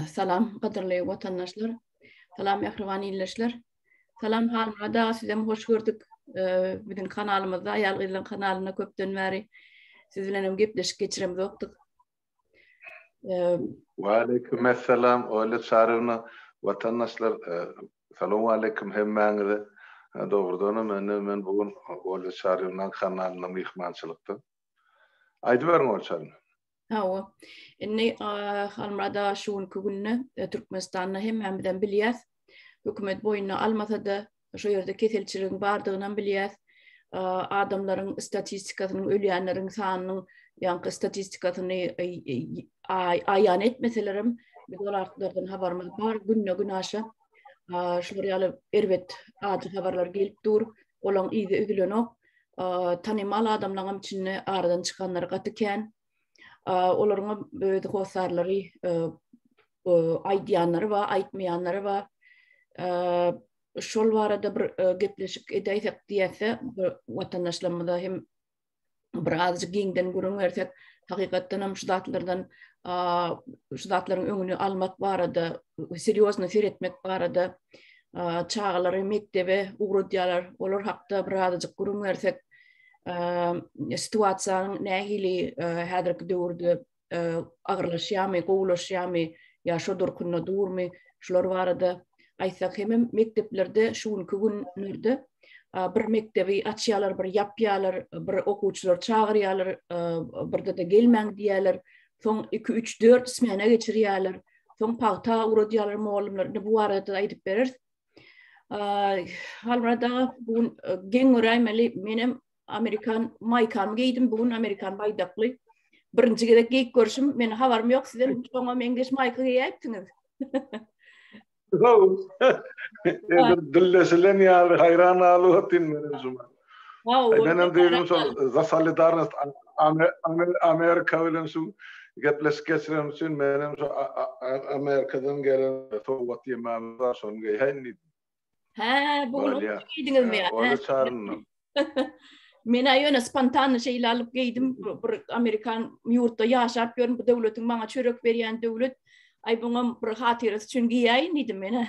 Salam, gadyrly watandaşlar. Salam, mähriban ildeşler. Salam, Halmyrat aga, sizem hoş gördük. Biziň kanalymyzda, aýal-gyzlaryň kanalynda köpden bäri siz bilen hem gepleşik geçiremzokdyk. Waleýkim essalam, Olýa Çarywna. Watandaşlar, salam aleýkim hemmäňize. Dogrudanam, indi men bu gün Olýa Çarýewnaň kanalynda myhmançylykda. Aýdyberiň Orçan. Hawa. Indi Halmurad aga şu günki günde e, Türkmenistanda hemmämizem bilýäs. Hökümet boýuna almasa-da, şu ýerde keselçiligiň bardygyny hem bilýäs. Adamlaryň statistikasynyň, ölýänleriň sanynyň ýaňky statistikasyny e, e, aýan etmeseler hem biz olardan habarymyz bar. Günde gün aşa şular ýaly erbet acı habarlar gelip dur. olaň yzy üzülenok. Tanymal adamlaňam içinde aradan çykanlar gaty kän. Olaryňa öz hossarlary aýdýanlary bar, aýtmaýanlary bar. Şol barada bir gepleşik edäýsek diýäse, watandaşlarymyza hem birazjyk giňden gürrüň bersek, hakykatdan hem şu zatlardan şu zatlaryň öňüni almak barada, serýozny seretmek barada çagalary mekdebe ugradýarlar. Olar hakda birazjyk gürrüň bersek, situasiýanyň nähili häzirki döwürde agyrlaşýarmy, gowulaşýarmy ýa şo durkunda durmy, şular barada aýtsak hemem mekdeplerde şu günki günlerde bir mekdebi açýarlar, bir ýapýarlar, bir okuwçylary çagyrýarlar, birde-de gelmäň diýýärler. Soň 2-3-4 smena geçirýärler. Soň pagta uradýarlar mugallymlar. Indi bu barada aýdyp bereris. Halmyrat aga, bu gün geň göräýmeli, menem Amerikan maýkamy geýdim. Bu gün Amerikan baýdakly. Birinji gezek geýip görşüm, men habarym ýok sizden. Soňa meňzeş maýka geýäýipdiňiz. Wow. Dillesilen ýaly haýran alyp otyn men özüm. Wow. Men hem diýdim şol za solidarnost Amerika bilen şu gepleşik geçirem üçin men hem şu Amerikadan gelen sowgat ýemem bar şony geýäýin diýdim. Hä, bu gün Barýa. onu geýdiňizmi? Hä, Onu çaryndyk. Men aýyna spontanny şeýle alyp geýdim. Bu- Bir amerikan ýurtda ýaşap ýörün, bu döwletiň maňa çörek berýän döwlet. Aý buňam bir hatyrasy üçin geýäýin diýdim men. hä.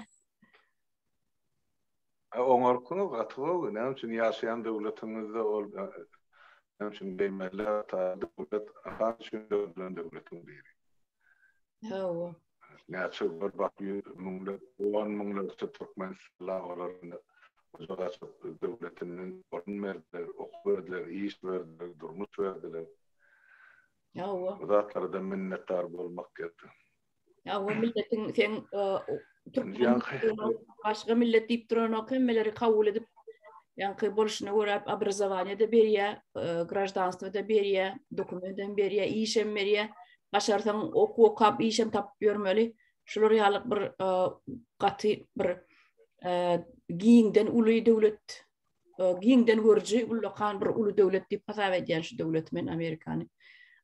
E, Oňarky gaty gowy. Näme üçin ýaşaýan döwletiňizde ol e, näme üçin geýmeliler? Ta döwlet ahan üçin döredilen döwletiň biri. Hawa. näçe birbak ýüz müňläp, on müňlerçe türkmen sylagylarynda gujak açyp, döwletinden orun berdiler, okuw berdiler, iş berdiler, durmuş berdiler. Hawa. Bu zatlara-da minnetdar bolmak gerek. Hawa, milletiň seň türkmen başga millet diýip duranok, hemmeleri kabul edip, ýaňky bolşuna görä obrazowaniýe-de berýär, grajdanstwo-da berýär, dokument hem berýär, iş hem berýär. başarsaň okuw okap işem tapyp ýörmeli. Şular ýaly bir e, gaty bir e, giňden uly döwlet e, giňden görüji ullakan bir uly döwlet diýip hasap edýän şu döwlet men Amerikany.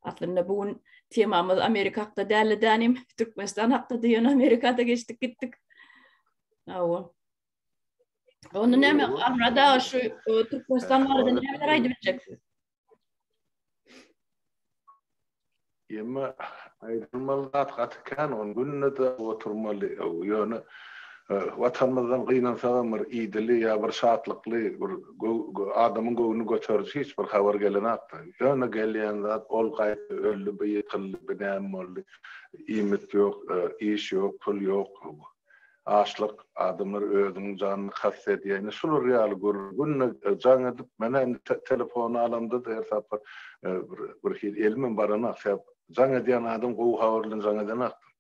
Aslynda bu gün temamyz Amerika hakda däli dänim, Türkmenistan hakda diýen Amerikada geçdik gitdik. Awa. Onda näme? Arada şu Türkmenistan barada näme aýdyp biljeksin? Emma aýdylmaly zat gaty kän, ony günde-de oturmaly. Ýöne Watanymyzdan gynansagam bir idili ýa bir şatlykly, bir adamyň göwnüni göteriji hiç bir habar gelenakda. Ýöne gelýän zat, ol gaýtdy, öldi, bu ýykyldy, bu näme boldy, iýmit ýok, iş ýok, pul ýok. Açlyk, adamlar özüniň janyna kast edýär. Ine, şular ýaly gürrüňe jaň edip, menä indi telefony alamda-da her sapar bir birhili elimem baranok. Sebäp jaň edýän adam gowy habar bilen jaň edenokdur.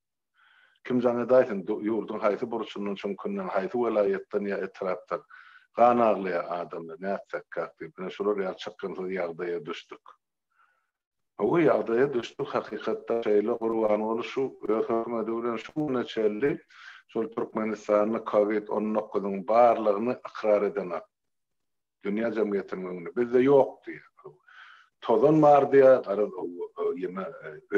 Kim jaň edäýsin, ýurduň haýsy burçundan, çüňkünden, haýsy welaýatdan ýa etrapdan gan aglaýar adamlar, nätsekkäk diýip, ine, şular ýaly çykgynsyz ýagdaýa düşdük. Gowy ýagdaýa düşdük hakykatdan şeýle Gurbanguly şu öz hökümedi bilen şu güne çenli şol Türkmenistanda covid on dokuzyň barlygyny ykrar edenok dünýä jemgyýetiniň öňünde bizde ýok diýýär tozan bar diýýär garaz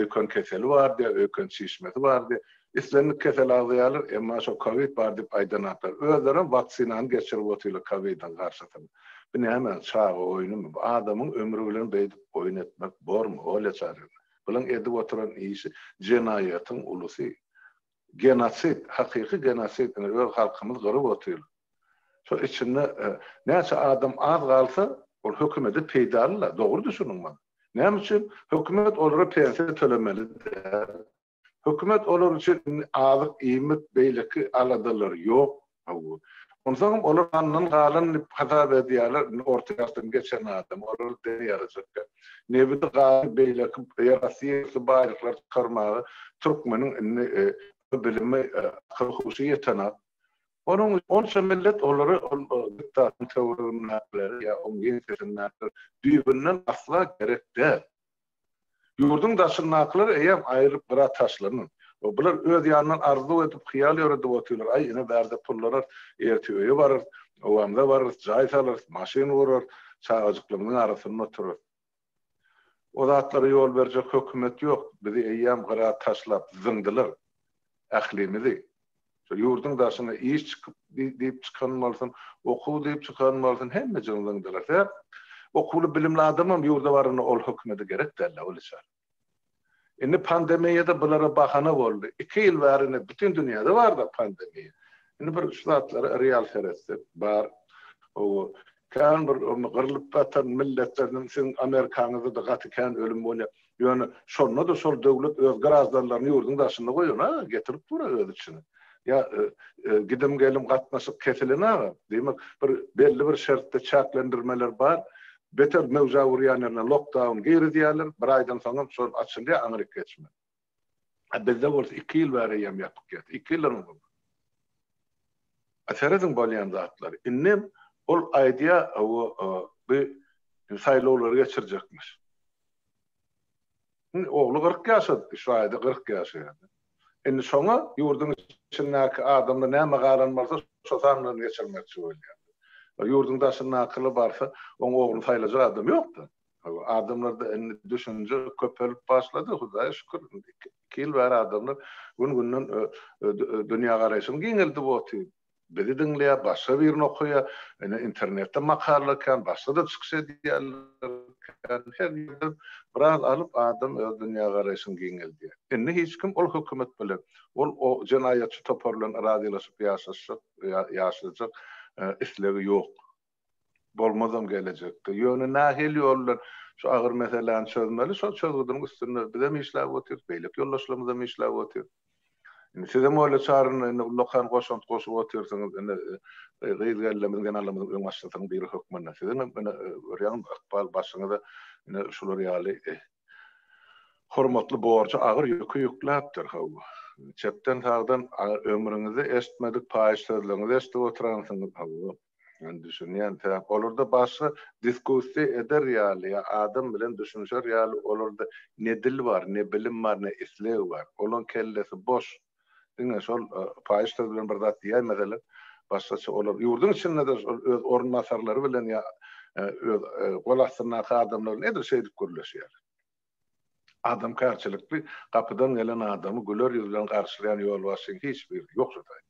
öýken keseli bar diýýär öýken çişmesi bar diýýär Islendik kesel agzaýarlar, emma şo kowid bar diýip aýdanaklar. Özlerem waksinany geçirip otyrlar kowidiň garşysyna. Bu näme, çaga oýnumy? Bu adamyň ömri bilen beýdip oýun etmek bormy, Olýa Çaryna? Bulan edip oturan işi jenaýatyň ulusy. Genosid, hakyky genosid, ine, öz halkymyz gyryp otyrlar. Şo içinde näçe adam az galsa, ol hökümede peýdaly-la, dogry düşüniň muny. Näme üçin? Hökümet olara pensiýa tölemeli däl. Hökümet olar üçin indi azyk, iýmit, beýleki aladalar ýok. Hawa. Onsoňam olar gandan galan diýip hasap edýärler. Indi orta ýaşdan geçen adam, olar dene ýarajakka. Nebidi, gazy, beýleki ýerasty ýerüsti baýlyklary çykarmaga türkmeniň indi bilimi, akyl-huşy ýetenok. Onuň üçin onça millet olary ol diktatyň töweregindäkileri ýa oň ýeňsesindäkileri düýbünden asla gerek däl. Ýurduň daşyndakylar eýýäm aýrylyp gyra taşlanyn. O bular öz ýanyndan arzuw edip, hyýal ýöredip otyrlar, aý ine bärde pul alarys, ertir öýe bararys, obamyza bararys, jaý salarys, maşyn gurarys, çagajyklarymyzyň arasynda oturarys. O zatlara ýol berjek hökümet ýok, bizi eýýäm gyra taşlap, zyňdylar. ählimizi. Şol ýurduň daşyna iş çykyp diýip çykan bolsun, okuw diýip çykan bolsun, hemme jyňzyň dyrasy. Okuwly, bilimli adamam ýurda baranda ol hökümete gerek däl-le, ol içer. Indi pandemiýa-da bulara bahana boldy. Iki ýyl bäri indi bütin dünýäde bar-da pandemiýa. Indi bir şu zatlara real seretsek, bar. Oba, Kän bir ony gyrlyp gatan milletleriniň siziň amerikaňyzda-da gaty kän ölüm bolýar. Ýöne şonda-da şol döwlet öz graždanlaryny ýurduň daşynda goýan-a, getirip dur-a öz içine. Ýa gidim-gelim gatnaşyk kesilen-agam. Diýmek, bir belli bir şertde çäklendirmeler bar. Beter möwjä urýan ýerine lokdaun girizýärler, bir aýdan soňam şol açylýar, aňryk geçmän. A bizde bolsa iki ýyl bäri eýýäm ýatyp geldi. Iki ýyldan öň bolmady. A serediň bolýan zatlary. Indem ol aýdýar, hawa, bi saýlawlary geçirjekmiş. Indi ogly kyrk ýaşadypdy, şu aýda kyrk ýaşaýar. Indi şoňa ýurduň içindäki adamlar näme galan bolsa, şo sandan geçirmekçi bolýar. Ýurduň daşyndakylar barsa, oň ogluny saýlajak adam ýok-da. Adamlarda indi düşünje köpelip başlady, Hudaýa şükür. Iki ýyl bäri adamlar gün-günden dünýägaraýşyny giňeldip otyr. Bizi diňleýär, başga birini okaýar. Indi internetde makalalar kän, başda-da çykyş edýärler kän. Her ýerden biraz alyp, adam öz dünýägaraýşyny giňeldýär. Indi hiç kim ol hökümet bilen, ol o jenaýatçy topar bilen razylaşyp ýaşaşjak, ýaşajak islegi ýok. Bolmazam gelejekde. Ýöne nähili ýol bilen şu agyr meseläni çözmeli, şol çözgüdiň üstünde bizem işläp otyrys, beýleki ýoldaşlarymyzam işläp otyr. Indi sizem öýle çaryna indi ullakan goşant goşup otyrsyňyz. Indi gyz gellemizin, zenanlarymyzyň öňbaşçysynyň biri hökmünde siziňem indi görýäňizmi, ykbal başyňyza indi şular ýaly hormatly borjy, agyr ýüki ýükläpdir. Hawa, çepden-sagdan ömrüňizde eşitmedik paýyş sözleriňizi eşidip oturansyňyz. Hawa, Men düşünýän sebäp olarda başga diskussiýa eder ýaly ýa adam bilen düşünişer ýaly olarda ne dil bar ne bilim bar ne isleg bar olaň kellesi boş diňe şol paýyş söz bilen bir zat diýýär meselem başgaça olar ýurduň içindede şol öz orunbasarlary bilen ýa öz gol astyndaky adamlar nedir şeýdip gürleşýär. Adamkärçilikli gapydan gelen adamy güler ýüz bilen garşylaýan ýolbaşçyň hiç biri ýok şodayny.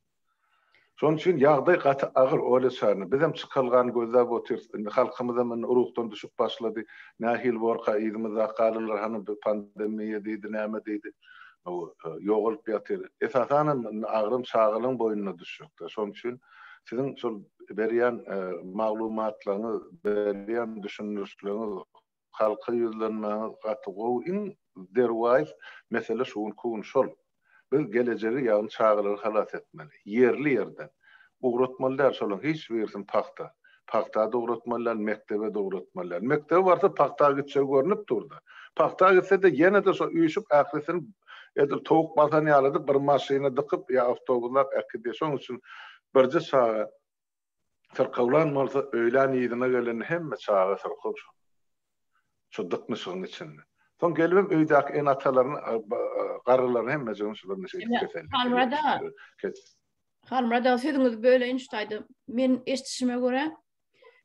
Şonuň üçin ýagdaý gaty agyr Olýa Çarna. Bizem çykalgany gözläp otyrys. Indi halkymyzam indi ruhdan düşüp başlady. Nähili borka yzymyzdaky galylar hany bu pandemmiýa diýdi, näme diýdi. Ýogalyp ýatyr. Esasanam indi agram çagalyň boýnuna düşjekdä. Şonuň üçin siziň şol berýän maglumatlaryňyz, berýän düşündirişleriňiz Halka ýüzlenmäňiz gaty gowy iň zerwaýys mesele şu günki gün şol. Biz gelejegi ýagny çagalary halas etmeli. Ýerli ýerden. Ugratmaly däl şolaň hiç birisini pagta. Pagtada ugratmaly däl mekdebe-de ugratmaly däl. Mekdebe barsa pagta gitjegi görnüp durda. Pagta gitse-de ýene-de şo üýşüp ählisini edil towuk basan ýalydyp bir maşyna dykyp ýa awtobuslap äkidýä. Şoň üçin birje çaga. Syrkawlan bolsa, öýlän yzyna gelende hemme çaga syrkaw şol. Şu dyknyşygyň içinde. Soň gelibem öýdäki ene-atalaryny, garrylaryny hemmejigini şular neşe edip keseldi. Halmyrat aga. Halmyrat aga sözüňizi böleýin şu taýda. Men eşdişime görä,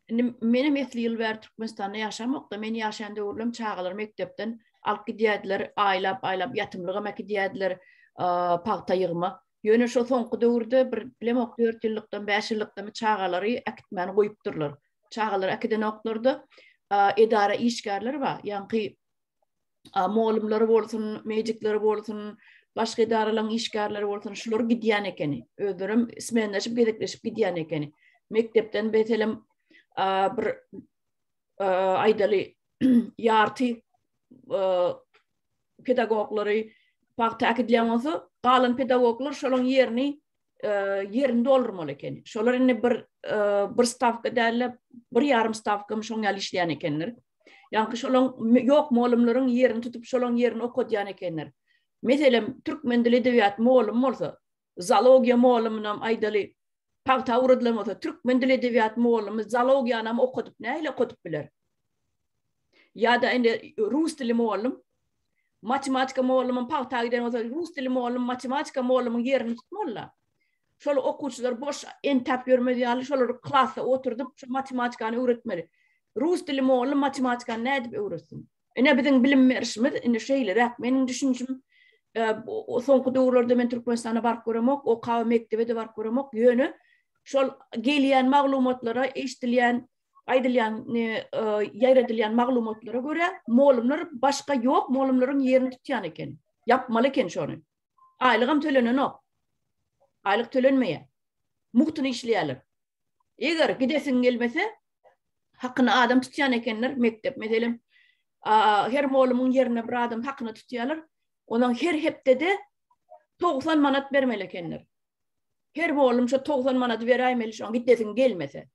indi menem esli ýyl bäri Türkmenistanda ýaşamok-da, men ýaşaýan döwürlem çagalary mekdepden alyp gidýärdiler, aýlap-aýlap ýatymlygam äkidýärdiler, pagta ýygma. Ýöne şo soňky döwürde bir bilemok dört ýyllykdan bäş ýyllykdamy çagalary äkitmäni goýupdyrlar. Çagalary äkidenoklarda edara işgärleri bar. Ýaňky mugallymlary bolsun, medikleri bolsun, başga edaralaryň işgärleri bolsun, şular gidýän ekeni. Özleri hem smenleşip, gezekleşip gidýän ekeni. Mekdepden meselem bir aýdaly ýarty pedagoglary pagta äkidilýän bolsa, galan pedagoglar şolaryň ýerini ýerini doldurmaly ekeni. Şolar indi bir bir stawka däl-de, bir ýarym stawka şoň ýaly işleýän ekenler. Ýaňky şolaň ýok mugallymlaryň ýerini tutup, şolaň ýerini okadýan ekenler. Meselem, türkmen dili edebiýat mugallymy bolsa, Zoologiýa molumynam aýdaly, pagta owradylan bolsa, türkmen dili edebiýat molumy zoologiýanam okadyp, nähili okadyp biler? Ýa-da indi rus dili molum, matematika molumym pagta giden bolsa, rus dili molum, matematika molumyň ýerini tutmaly-la. Şol okuwçylar boş entäp ýörmez ýaly, şolary klasda oturdyp, şu matematikany öwretmeli. Rus dili molum matematikany nädip öwretsin? Ine biziň bilim berişimiz indi şeýleräk. Meniň düşünjim e, soňky döwürlerde men Türkmenistana baryp göremok, okap mekdebe de baryp göremok. Ýöne şol gelýän maglumatlara, eşidilýän aýdylýan e, e, ýaýradylýan maglumatlara görä molumlar başga ýok molumlaryň ýerini tutýan eken ýapmaly eken şony Aýlygam tölenenok. Aýlyk tölenmeýär. Mugtuna işleýärler. Eger gidesiň gelmese, hakyny adam tutýan ekenler, mekdep meselem, her molumyň ýerine bir adam hakyny tutýarlar. Onuň her hepdede 90 manat bermeli ekenler. Her molum şu 90 manady beräýmeli, şoň gidesiň gelmese.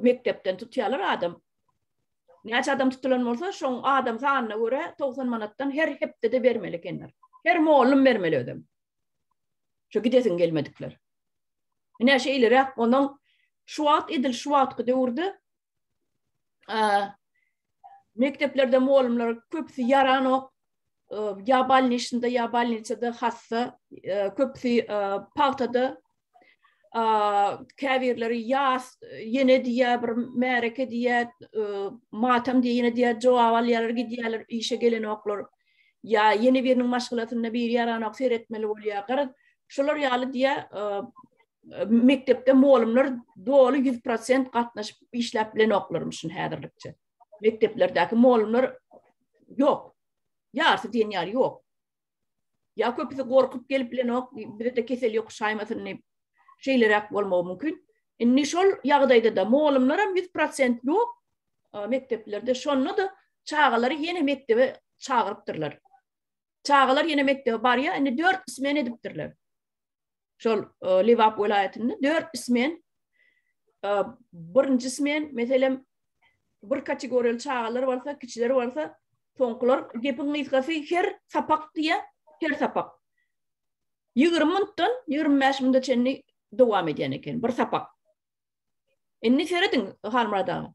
mekdepden tutýarlar adam. Näçe adam tutulan bolsa, şoň adam sanyna görä 90 manatdan her hepdede bermeli ekenler. Her mugallym bermeli özüm. Şu gidesin gelmedikler. Ine şu iliräk onuň şu wagt edil şu wagtky döwürde mekdeplerde mugallymlar köpüsi ýaranok. Ýa balnişinde, ýa balnisada hassa, köpüsi pagtada käbirleri ýas ýene diýýär bir märeke diýýär matam diýýär ýene diýýär jogap alýarlar gidýärler işe gelenoklar ýa ýene biriniň maşgalasynda bir ýaranok seretmeli bolýar garaz şolar ýaly diýýär mekdepde mugallymlar doly 100% gatnaşyp işläp bilenoklarmyşyn häzirlikçe mekdeplerdäki mugallymlar ýok ýarysy diýen ýaly ýok Ya köpüsi gorkup gelip bilenok, bizde kesel yok şaymasyn diyip. Şeylerek bolmagy mümkün. Indi şol ýagdaýda da molumlar hem 100% ýok mekdeplerde. Şonda da çagalary ýene mekdebe çagyrypdyrlar. Çagalar ýene mekdebe barýar, indi 4 smen edipdirler. şol Lebap welaýatynda dört ismen birinji ismen meselem bir kategoriýaly çagalar bolsa, kiçiler bolsa, soňkular gepiň gysgasy her sapak diýe, her sapak. 20 minutdan 25 minut çenli dowam edýän eken bir sapak. Indi serediň Halmurad aga.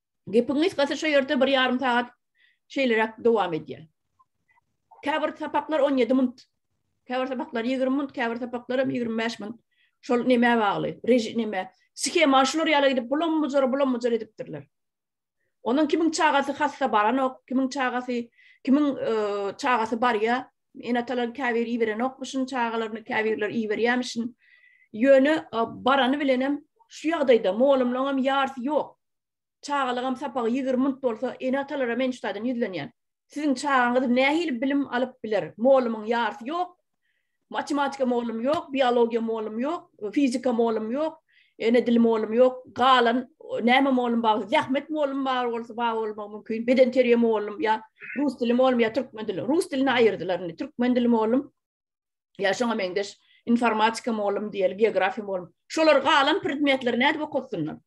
Gepiň gysgasy şu ýerde bir ýarym sagat şeýleräk dowam edýär. Käbir sapaklar on ýedi minut, käbir sapaklar ýigrimi minut, käbir sapaklar hem ýigrimi bäş minut. Şol nämä bagly? Režim näme? Sihema şular ýala gidip bulam mujar, bulam mujar edipdirler. Onuň kimiň çagasy hassa baranok, kimiň çagasy, kimiň e, çagasy barýar. Enatalar käbir iberenokmyşyn çagalaryny, käbirler iberýärmişin. Ýöne e, barany bilen hem şu ýagdaýda molumlaryň hem ýarsy ýok. Çagalygam sapagy ýigrimi minut bolsa, ene-atalara men şu taýdan ýüzlenýän. Siziň çagaňyz nähili bilim alyp biler? Molumyň ýarsy ýok. Matematika molum ýok, biologiýa molum ýok, fizika molum ýok, ene dili molum ýok. Galan näme molum bar? Zähmet molum bar bolsa, bar bolmagy mümkin. Bedenterbiýe molum ýa rus dili molum ýa türkmen dili. Rus dilini aýyrdylar indi. Türkmen dili molum. ýa şoňa meňzeş informatika mugallym diýeli geografiýa mugallym şolar galan predmetleri nädip okatsynlar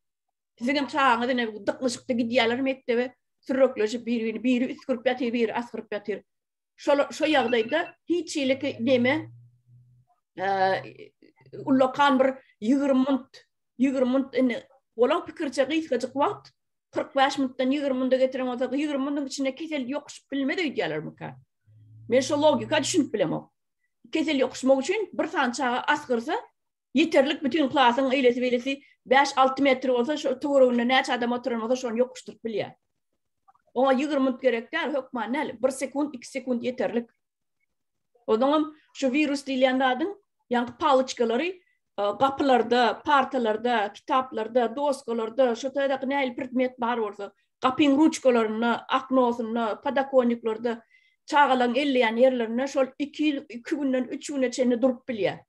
siziň hem çagaňyz ine dyknyşykda gidýärler mekdebe sürrekleşip biri biri biri üsgürip ýatyr biri asgyryp ýatyr şol şo ýagdaýda hiç ileki neme ullakan bir 20 minut 20 minut indi bolan pikirçe gysgajyk wagt 40 bäş minutdan 20 minutda getiren bolsa, 20 minutdan içinde kesel ýokuşyp bilmez öýdýärlermika. Men şu logika düşünip bilemok. Kesel ýokuşmak üçin bir sany çaga asgyrsa, ýeterlik bütün klasyň eýlesi beýlesi 5-6 metr bolsa, şu töwereginde näçe adam oturan bolsa, şony ýokuşdyryp bilýär. Oňa 20 minut gerek däl, hökman näl, 1 sekunt, 2 sekunt ýeterlik. Ozaňam şu wirus diýilýän zadyň ýaňky paloçkalary gapylarda, partalarda, kitaplarda, doskalarda, şu taýdaky nähili predmet bar bolsa, gapyň ruçkalarynda, aknosynda, podakonniklarda, çagalaň elleýän ýerlerinde şol iki ýyl, iki günden üç güne çenli durup bilýär.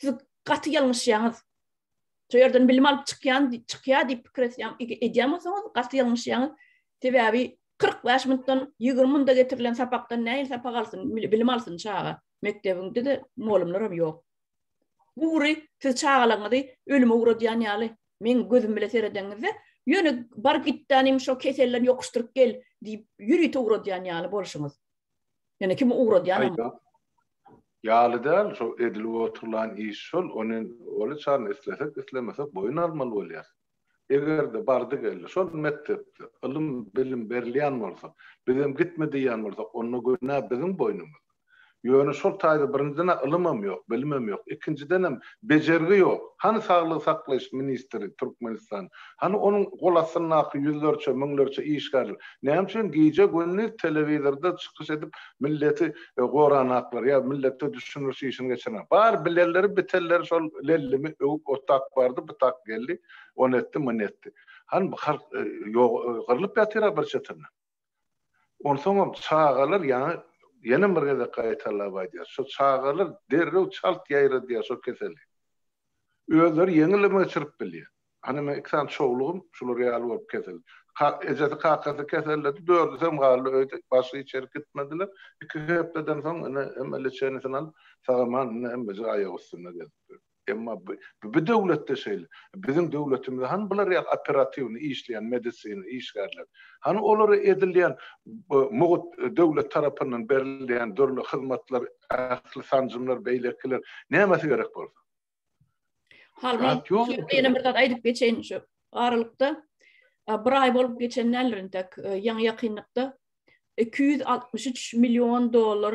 Siz gaty ýalňyşýaňyz. Şu ýerden bilim alyp çykýan, çykýar diýip pikir etýän, edýän bolsaňyz, gaty ýalňyşýaňyz. Sebäbi 45 minutdan 20 minutda getirilen sapakdan näil sapak alsyn, bilim alsyn çaga. Mekdebinde de mugallymlar hem ýok. Bu ury siz çagalaryňyzy ölüme ugradýan ýaly. Men gözüm bilen seredenimde, ýöne bar gitdanym şo keselden ýokuşdyryp gel diýip, ýörite ugradýan ýaly bolşuňyz. Ýöne kim ugradýanam bar. Ýaly däl, şo edilip oturylan iş şol, ony olaçaryny islesek-islemesek boýun almaly bolýarys. Eger-de bardy-geldi şol mekdepde ylym-bilim berilýän bolsa, bizem gitme diýýän bolsak, onda günä biziň boýnumyzda. Ýöne şol taýda birinjiden-ä ylymam ýok, bilimem ýok, ikinjidenem bejergi ýok. Hany saglygy saklaýyş ministri Türkmenistan Hany onuň gol astyndaky ýüzlerçe, müňlerçe işgär? Näme üçin gije-gündiz telewizorda çykyş edip milleti goranaklar ýa milletde düşündiriş işini geçirenak? Bar bilenleri, bitenleri şol Lellimi öwüp otak bardy, bytak geldi, ony etdi, muny etdi. Hany bu halk ýogarylyp ýatyra bir çetinden. Onsoňam çagalar ýaňy ýene bir gezek gaýtalap aýdýar, şo çagalar derrew çalt ýaýradýar şo keseli. Özleri ýeňilem geçirip bilýär. Hany meň iki sany çowlugym şular ýaly bolup kesildi. Ejesi, kakasy keselledi, dördüsem galdy öýde, başga hiç ýere gitmediler. Iki hepdeden soň ine hemme leçenisini alyp sagaman indi hemmejik aýak üstünde gezip ýör. Emma bu döwletde şeýle. Biziň döwletimizde hany bular ýaly operatiwny işleýän medisina işgärleri? Hany olara edilýän mugt döwlet tarapyndan berilýän dürli hyzmatlar, ähli sanjymlar, beýlekiler nämesi gerek bolsa? Halbuki ýene bir zat aýdyp geçeýin şu aralykda bir aý bolup geçen däldir intek ýaňy ýakynlykda 263 million dollar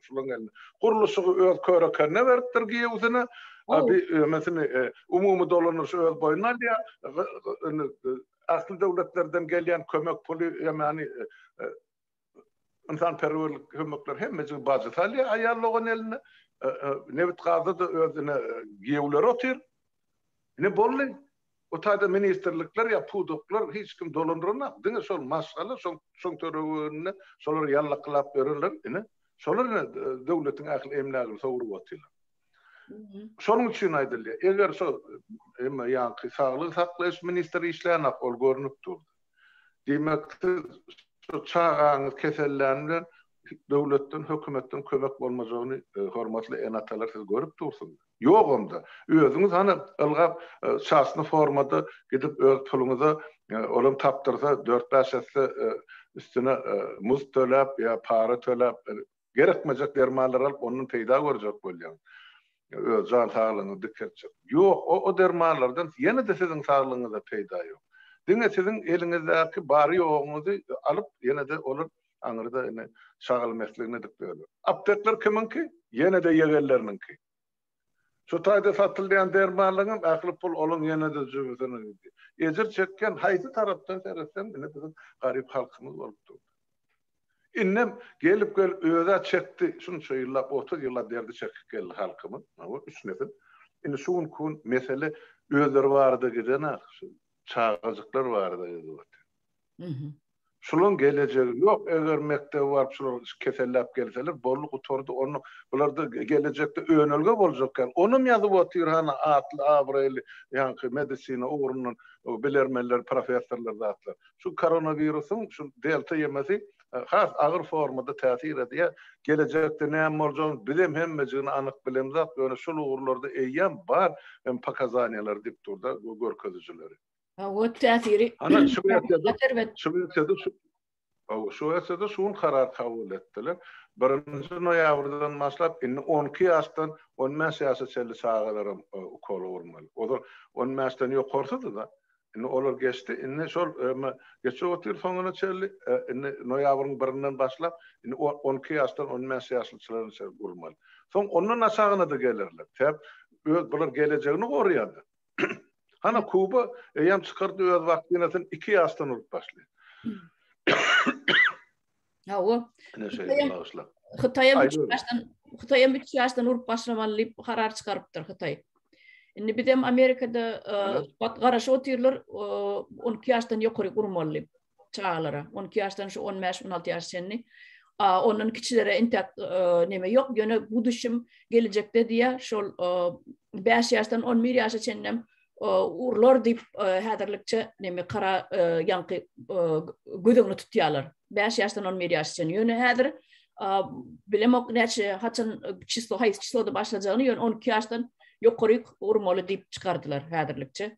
Şularyň gelni. Gurluşygy öz köre-kerine beripdir, giýewsine. A bi öňesini umumy dolandyryşy öz boýnuna alýar. Indi ähli döwletlerden gelýän kömek puly hem ýany ynsanperwerlik kömekleri hemmejigi bajy salýar aýal dogan eline. Nebit-gazda-da özüne giýewleri otyr. Ine boldy. Bu taýda ministrlikler ýa pudaklar hiç kim dolandyranok, diňe şol maşgala, şol şoň töreginde şolar ýallakylap ýörenler, ine, şolar ine döwletiň ähli emlägini sogrup otyrlar. Şonuň üçin aýdylýar, eger şo emma ýaňky saglygy saklaýyş ministri işleýänok, ol görnüp durdy. Diýmek, siz şu çagaňyz kesellän bilen döwletden, hökümetden kömek bolmajagyny, hormatly ene-atalar, siz görüp dursuňyz. Ýok onda. Özüňiz hany ylgap, çasny formada gidip öz puluňyza, olam tapdyrsa, dört-bäş esse üstüne muzd töläp ýa para töläp Gerekmejek dermanlary alyp ondan peýda görjek bolýaň. Öz jan saglygyňy dikeltjek. Ýok, o o dermanlardan ýene-de siziň saglygyňyza peýda ýok. Diňe siziň eliňizdäki bary-ýogyňyzy alyp ýene-de olar aňyrda indi şagal mesligini edip ýörler. Aptekler kimiňki? Ýene-de ýegenleriniňki. Şu taýda satylýan dermanlaryňam ähli pul olaň ýene-de jübüsine gidýär. Ejir çekýän haýsy tarapdan seretseň ine biziň garyp halkymyz bolup dur. Indem gelip gelip özä çekdi şunça ýyllap otuz ýyllap derdi çekip geldi halkymyz maňa üç nesil. Indi şu günki gün mesele özleri barada gidenok şu çagajyklar barada gidiberdi. Şulaň gelejegi ýok eger mekdebe baryp şular keselläp gelseler boldy gutardy onda bularda gelejekde önelge boljak ýaly onam ýazyp otyr hany atly abraýly ýaňky medisina ugrundan bilermenler professorlar zatlar şu koronawirusyň şu delta ýemesi has agyr formada täsir edýär gelejekde näme boljagyny bizem hemmejigini anyk bilemzok ýöne şul ugurlarda eýýäm bar pokazaniýalar dikturda görkezijileri. Howat täsiri. Ana şu ýerde şu ýerde şu Hawa, şu ýerde şu gün karar kabul etdiler. 1-nji noýabrdan başlap indi 12 ýaşdan 15 ýaşa çenli çagalar hem e, ukol urmaly. Olar 15-den ýokarsydy da. Indi olar geçdi. Indi şol öme geçip otyr soňuna çenli e, indi noýabryň 1-inden başlap indi 12 ýaşdan 15 ýaşlyçylar üçin urmaly. Soň ondan aşagyna da gelerler. Sebäp öz bular gelejegini goraýarlar. Hana Kuba eýýäm çykardy öz waktinasyny 2 ýaşdan urup başlaýar. Ha o. Ene şeýle bagşla. Hytaýa başdan Hytaýa üç ýaşdan urup başlamaly diýip karar çykarypdyr Hytaý. Indi biz hem Amerikada e, garaşyp otyrlar, 12 e, ýaşdan ýokary urmaly. çagalara. 12 ýaşdan şu 15-16 ýaş çenli. Ondan kiçilere intek neme ýok. Ýöne bu düşüm geljekde diýä şol 5 ýaşdan 11 ýaşa çenlem urlar diýip häzirlikçe neme kara ýaňky gödüňi tutýarlar. 5 ýaşdan 11 ýaş çenli. Ýöne häzir bilemok näçe haçan çislo haýsy çisloda başlajagyny ýöne 12 ýaşdan ýokaryk urmaly diýip çykardylar häzirlikçe.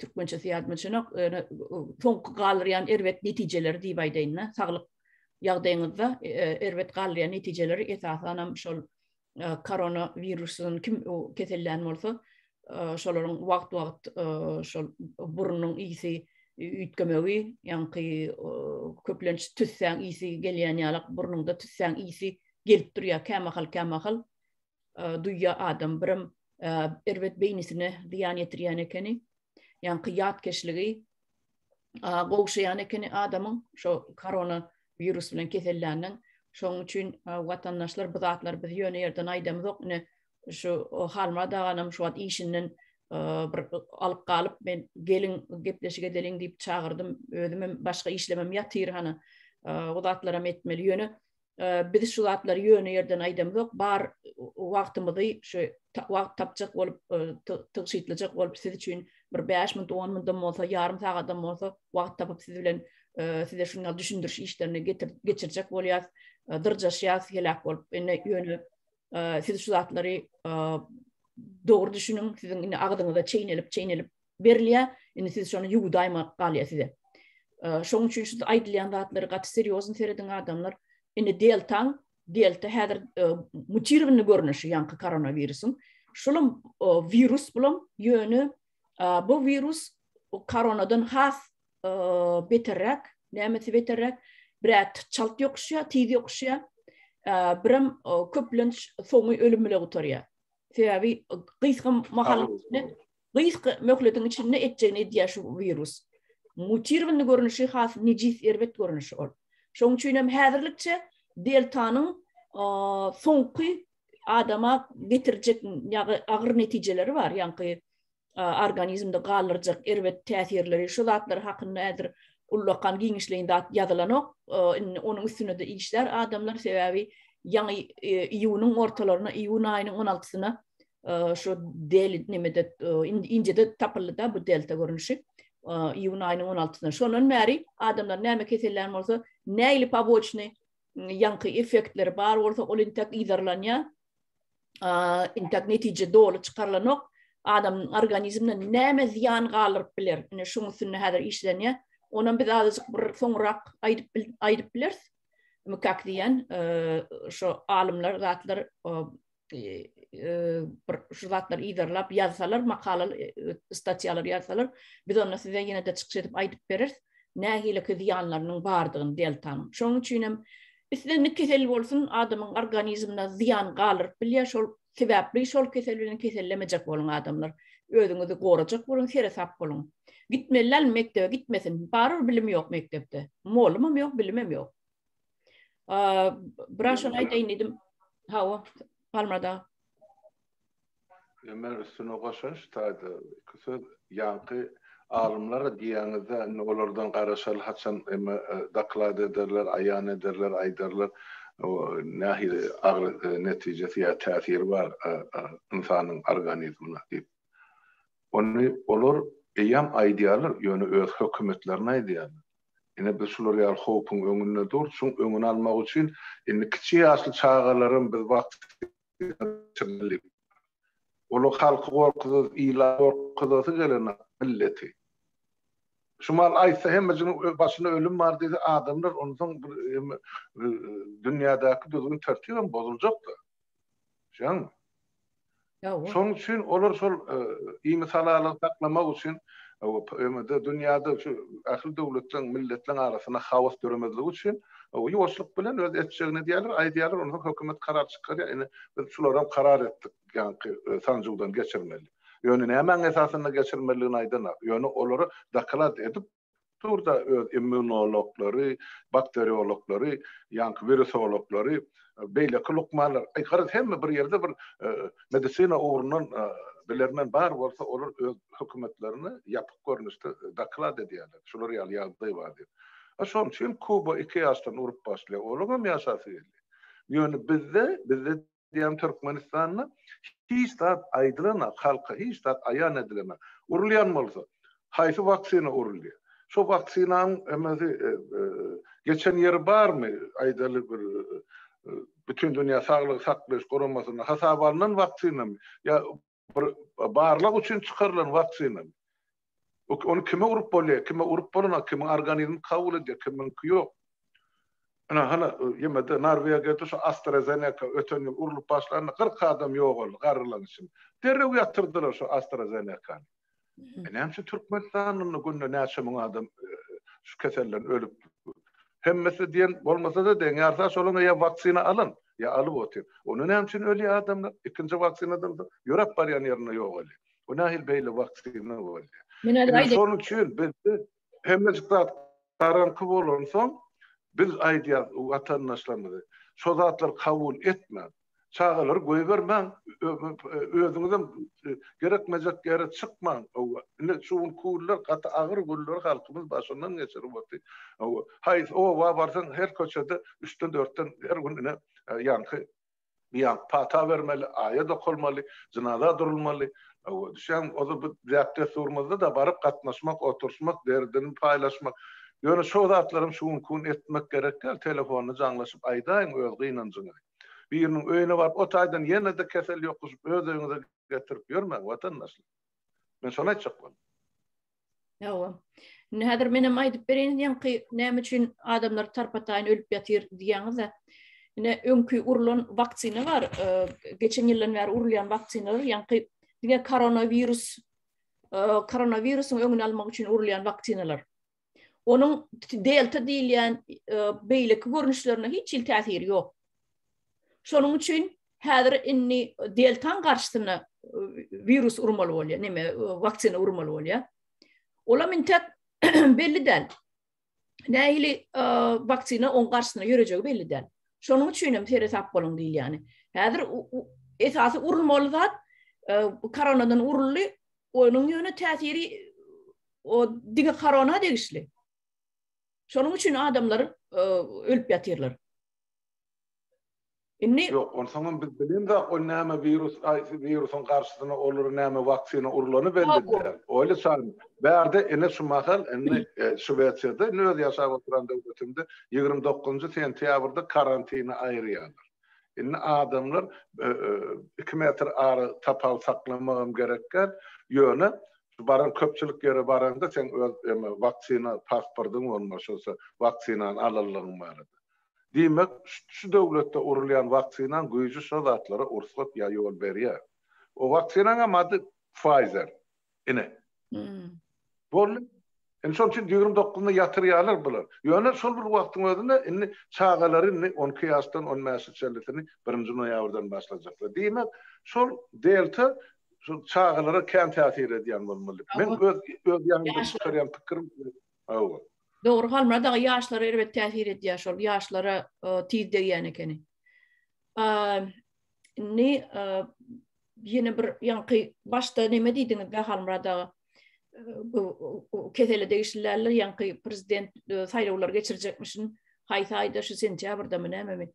türkmençesi ýazmyçynyk, soňky galyrýan erbet netijeleri diýip aýdaýyn-da, saglyk ýagdaýyňyzda e, e, erbet galýan netijeleri esasan hem şol e, korona wirusynyň kim kesellän bolsa, şolaryň wagt-wagt şol burnuň ýygy üýtgemegi, ýaňky köplenç tüssäň ýygy gelýän ýalak, burnuňda tüssäň ýygy gelip durýar, kämahal-kämahal duýýa adam birim erbet beýnisine zyýan ýetirýän ekeni ýaňky ýatkeşligi gowşaýan ekeni adamyň şo korona wirus bilen keselländen şoň üçin watandaşlar bu zatlar biz ýöne ýerden aýdamyzok ine şu halma daganam şu wagt işinden bir alyp galyp men gelin gepleşik edeliň diýip çagyrdym özüm hem başga işlemem ýatyr hany o zatlaram etmeli ýöne biz şu zatlary ýöne ýerden aýdamzok, bar wagtymyzy şu wagt tapjak bolup, tygşytlyjak bolup siz üçin bir bäş minut, on minutdan bolsa, ýarym sagadam bolsa wagt tapyp siz bilen size şunda düşündiriş işlerini geçirjek bolýas, dyrjaşýas heläk bolup. Indi ýöne siz şu zatlary dogry düşüniň, siziň indi agzyňyza çeýnelip-çeýnelip berilýä indi siz şony ýuwdaýmak galýa size şoň üçin şu aýdylýan zatlary gaty serýozny serediň adamlar indi deltaň delta häzir mutirowny görnüşi ýaňky koronawirusyň şulam wirus bulam ýöne bu wirus koronadan has beterräk nämesi beterräk brat çalt ýokuşýa tiz ýokuşýa biram köplenç soňy ölüm bile gutarýa sebäbi gysga mahal Gysga möhletiň içinde etjegini edýär şu wirus. Mutirowany görnüşi has nejis erbet görnüşi ol. Şoň üçin hem häzirlikçe deltanyň soňky adama getirjek ýagy agyr netijeleri bar, ýaňky organizmde galdyrjak erbet täsirleri şu zatlar hakynda häzir ullakan giňişleýin zat ýazylanok. Indi onuň üstünde işlär adamlar sebäbi ýaňy iýunyň ortalaryna, iýun aýynyň on altysyna şu del nimede indide tapyldy da bu delta görnüşi iýun aýynyň 16-synda. Şondan bäri adamlar näme kesellän bolsa, näili poboçny ýaňky effektleri bar bolsa, ol intek yzarlanýar. Intek netije doly çykarylanok. Adamyň organizmine näme zyýan galdyryp biler? Ine şuň üstünde häzir işlenýär. Onam biz azajyk bir soňrak aýdyp aýdyp bileris. Mukak diýen şu alymlar zatlar bir şu zatlary yzarlap ýazsalar, makala statýalar ýazsalar, biz onda size ýene-de çykyş edip aýdyp bereris. Nähiliki zyýanlarynyň bardygyny deltanyň. Şonuň üçin hem isle ne kesel bolsun, adamyň organizmine zyýan galdyryp bilýär. Şol sebäpli şol kesel bilen kesellemejek boluň adamlar. Özüňizi gorajak boluň, seresap boluň. Gitmeli däl mekdebe gitmesin. Barybir bilim ýok mekdepde. Mugallym hem ýok, bilim hem ýok. Biraz şunu aýdaýyn diýdim. Hawa, Palmada. Men üstüne goşaş taýda iki söz ýaňky alymlar diýýäňizde indi olardan garaşaly haçan emme e, doklad ederler, aýan ederler, aýdarlar nähili agyr e, netijesi ýa täsiri bar e, ynsanyň organizmine diýip. Ony olar eýýäm aýdýarlar, ýöne öz hökümetlerine aýdýarlar. Ine, biz şular ýaly howpuň öňünde dur. Şuň öňüni almak üçin indi kiçi ýaşly çagalaram biz waksinadan geçirmeli. Olar halky gorkuzasy, ili gorkuzasy gelenok, milleti. Şu mahaly aýtsa hemme jynyň başynda ölüm bar diýse adamlar onsoň bir dünýädäki düzgün-tertibem bozuljak-da. Şoňmy? Ýa-o. Şoň üçin olar şol iýmit halalygy saklamak üçin ömürde dünýäde şu ähli döwletleriň, milletleriň arasynda haos döremezlik üçin ýuwaşlyk bilen öz etjegini edýärler, aýdýarlar, onsoň hökümet karar çykarýar, ine biz şularam karar etdik, ýaňky sanjywdan geçirmeli. Ýöne nämäň esasynda geçirmeliligini aýdanok. Ýöne olary doklad edip Durda öz immunologlary, bakteriologlary, ýaňky wirusologlary, beýleki lukmanlar, aý garaz hemme bir ýerde bir medisina ugrundan bilermen bar bolsa olar öz hökümetlerini ýapyk görnüşde doklad edýärler. Şular ýaly ýagdaý bar diýip. A şonuň üçin Kuba iki ýaşdan urup başlaýar. Olaňam ýaşasy gelýär. Ýöne bizde, bizde eýýäm Türkmenistanda hiç zat aýdylanak, halka hiç zat aýan edilenak. Urulýan bolsa, haýsy waksina uruldy? Şo waksinanyň emesi geçen ýeri barmy? Aýdaly bir Bütindünýä saglygy saklaýyş guramasynda hasaba alnan waksinamy? Ýa Bir barlag üçin çykarylan waksina. Ony kime urup bolýar? Kime urup bolana, kimiň organizmi kabul edýär, kimiňki ýok. Ine, hany, ýemede Norwegiýada şu AstraZeneca öten ýyl urlup başlanda kyrk adam ýogaldy, garrylaň içinde. Derrew ýatyrdylar şu AstraZeneca-ny. E, näme üçin Türkmenistandan günde näçe müň adam e, şu keselden ölüp hemmesi diýen bolmasa da deň ýarsa şolan ýa waksina alyn ýa alyp otyr. Onda näme üçin ölýär adamlar? Ikinji waksinadan da ýörep barýan ýerinde ýok eli. Bu nähil beýle waksina bolýar. Şonuň üçin biz Hemmejik zat garaňky bolansoň, biz aýdýarys watandaşlarymyza, şo zatlary kabul etmäň, çagalary goýbermäň, özüňizem gerekmejek ýere çykmaň. Hawa, ine şu gün günler gaty agyr günleri halkymyz başyndan geçirip otyr. Hawa, haýsy oba barsaň, her köçede üçden-dörtden her gün ine ýaňky. Bian pata bermeli, aýat okalmaly, jynaza durulmaly. Hawa, düşen, ozal bu däp-dessurymyzda-da baryp gatnaşmak, oturşmak, derdini paýlaşmak. Ýöne şo zatlaram şu günki gün etmek gerek däl, telefonda jaňlaşyp aýdaýyň öz gynanjyňy. Biriniň öýüne baryp o taýdan ýene-de kesel ýokuşyp öz öýüňize getirip ýörmäň, watandaşlar. Men şony aýtjak boldum. Hawa. Indi häzir men hem aýdyp bereýin, ýaňky näme üçin adamlar tarpataýyn ölüp ýatyr diýýäňiz-ä. Ine öňki urlan waksina bar, e, geçen ýyldan bäri urulýan waksinalar, ýaňky diňe koronawirus e, koronawirusyň öňüni almak üçin urulýan waksinalar. Onuň delta diýilýän e, beýleki görnüşlerine hiç hil täsiri ýok. Şonuň üçin Häzir indi deltaň garşysyna wirus urmaly bolýar, näme, waksina urmaly bolýar. Olam indi täk belli däl. Nähili waksina oň garşysyna ýörejegi belli däl. Şonuň üçin hem seresap boluň diýilýäni. Häzir esasy urulmaly zat koronadan uruldy, onuň ýöne täsiri o diňe korona degişli. Şonuň üçin adamlar ölüp ýatyrlar. Indi Ýok, onsoňam biz bilemzok, ol näme wirus, haýsy wirusyň garşysyna olar näme waksina urulany belli däl. Oýly çary bärde ine şu mahal indi Şwesiýada, indi öz ýaşap oturan döwletimde ýigrimi dokuzynjy sentýabrda karantine aýyrýarlar. Indi adamlar iki metr ara tapawut saklamagam gerek däl. Ýöne baran köpçülik ýere baraňda seň öz waksina pasportyň bolmaly, şonsa waksinany alanlygyň barada. Diýmek, şu döwletde urulýan waksinaň güýji şo zatlara ursgat ýa ýol berýär. O waksinaň hem ady Pfizer. Ine. Boldy. Indi şonuň üçin ýigrimi dokuzyna ýatyrýarlar bular. Ýöne şol bir wagtyň özünde indi çagalary indi on iki ýaşdan on bäşe çenlisini birinji noýabrdan başlajaklar. Diýmek, şol delta şol çagalara kän täsir edýän bolmaly. Men öz öz ýanymdan çykarýan pikirim. Hawa. Dogry Halmyrat aga ýaşlara erbet täsir edýär şol ýaşlara e, tiz degýän ekeni. Ne ýene bir ýaňky başda näme diýdiňiz be Halmyrat aga? Kesele degişliler ýaňky prezident e, saýlawlary geçirjekmişin. Haýsy aýda şu sentýabrda mı näme mi?